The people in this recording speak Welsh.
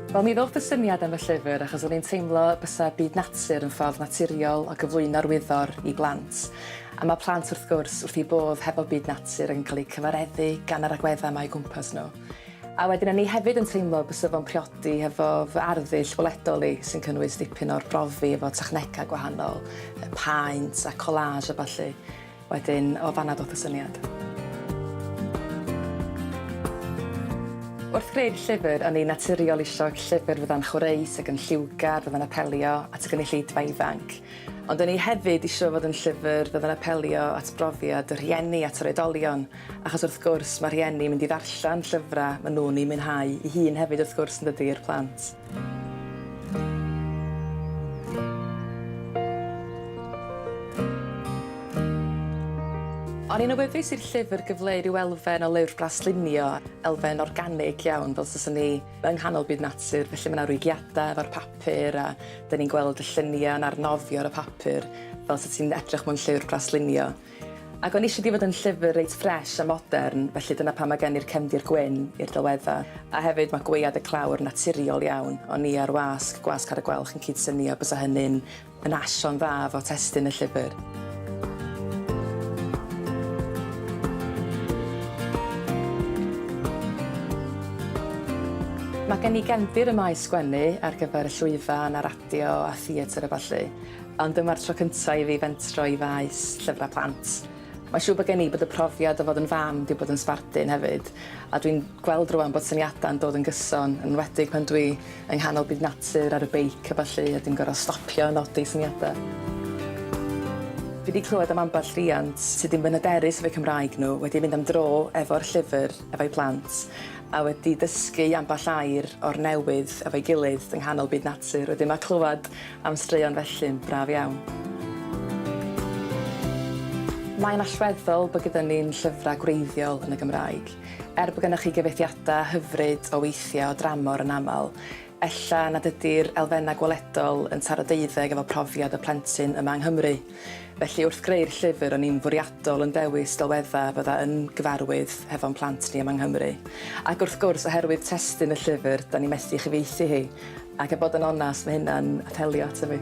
Wel mi ddoth y syniad am y llyfr achos o'n i'n teimlo bysa byd natur yn ffordd naturiol o gyflwyno'r wyddor i blant. A mae plant wrth gwrs wrth eu bodd hefo byd natur yn cael eu cyfareddu gan yr agweddau mae o gwmpas nhw. A wedyn o'n i hefyd yn teimlo bysa fo'n priodi hefo fy arddull weledol i sy'n cynnwys dipyn o'r brofi efo technegau gwahanol, paent a collage a ballu. Wedyn, o fanna ddoth y syniad. Wrth greu'r llyfr, o'n i'n naturiol isio llyfr fydda'n chwreus ac yn lliwgar, fydda'n apelio at y gynulleidfa ifanc. Ond o'n i hefyd isio fod yn llyfr fydda'n apelio at brofiad y rhieni at yr oedolion, achos wrth gwrs, mae rhieni mynd i ddarllen llyfrau maen nhw'n eu mwynhau eu hun hefyd wrth gwrs, yn dydi, i'r plant. O'n i'n awyddus i'r llyfr gyfleu rhyw elfen o Lyfr Blas Llunio, elfen organig iawn, fel taswn i yng nghanol byd natur, felly mae 'na rwygiadau efo'r papur a 'dan ni'n gweld y lluniau yn arnofio ar y papur fel 'set ti'n edrych mewn llyfr Blas Llunio. Ac o'n i isio di fod yn llyfr reit ffresh a modern, felly dyna pam mae gen i'r cefndir gwyn i'r delwedda. A hefyd mae gwaead y clawr yn naturiol iawn, o'n i a'r wasg, gwasg ar y gwelch yn cyd-synio, bysa hynny'n yn asio'n dda fo testun y llyfr. Mae gen i gefndir ym maes sgwennu ar gyfer y llwyfan a radio a theatr a ballu. Ond dyma'r tro cynta' i fi fentro i faes llyfra' plant. Mae'n siŵr bod gen i bod y profiad o fod yn fam 'di bod yn sbardun hefyd, a dwi'n gweld rŵan bod syniada'n dod yn gyson, yn enwedig pan dwi yng nghanol byd natur ar y beic a ballu a dim gor'o' stopio a nodi syniada'. Fi 'di clywed am ambell riant sy' 'di bod yn hyderus efo'u Cymraeg nhw, wedi mynd am dro efo'r llyfr efo'u plant, a wedi dysgu ambell air o'r newydd efo'i gilydd yng nghanol byd natur. Wedyn ma' clywed am straeon felly'n braf iawn. Mae'n allweddol bod gyda ni'n llyfrau gwreiddiol yn y Gymraeg. Er bod gennych chi gyfieithiadau hyfryd o weithiau o dramor yn aml, ella nad ydy'r elfennau gweledol yn taro deuddeg efo profiad y plentyn yma yng Nghymru. Felly wrth greu'r llyfr o'n i'n fwriadol yn dewis delweddau fydda yn gyfarwydd hefo'n plant ni yma yng Nghymru. Ac wrth gwrs, oherwydd testun y llyfr, 'da ni methu ei chyfieithu hi. Ac a bod yn onast, mae hynna'n apelio ato fi.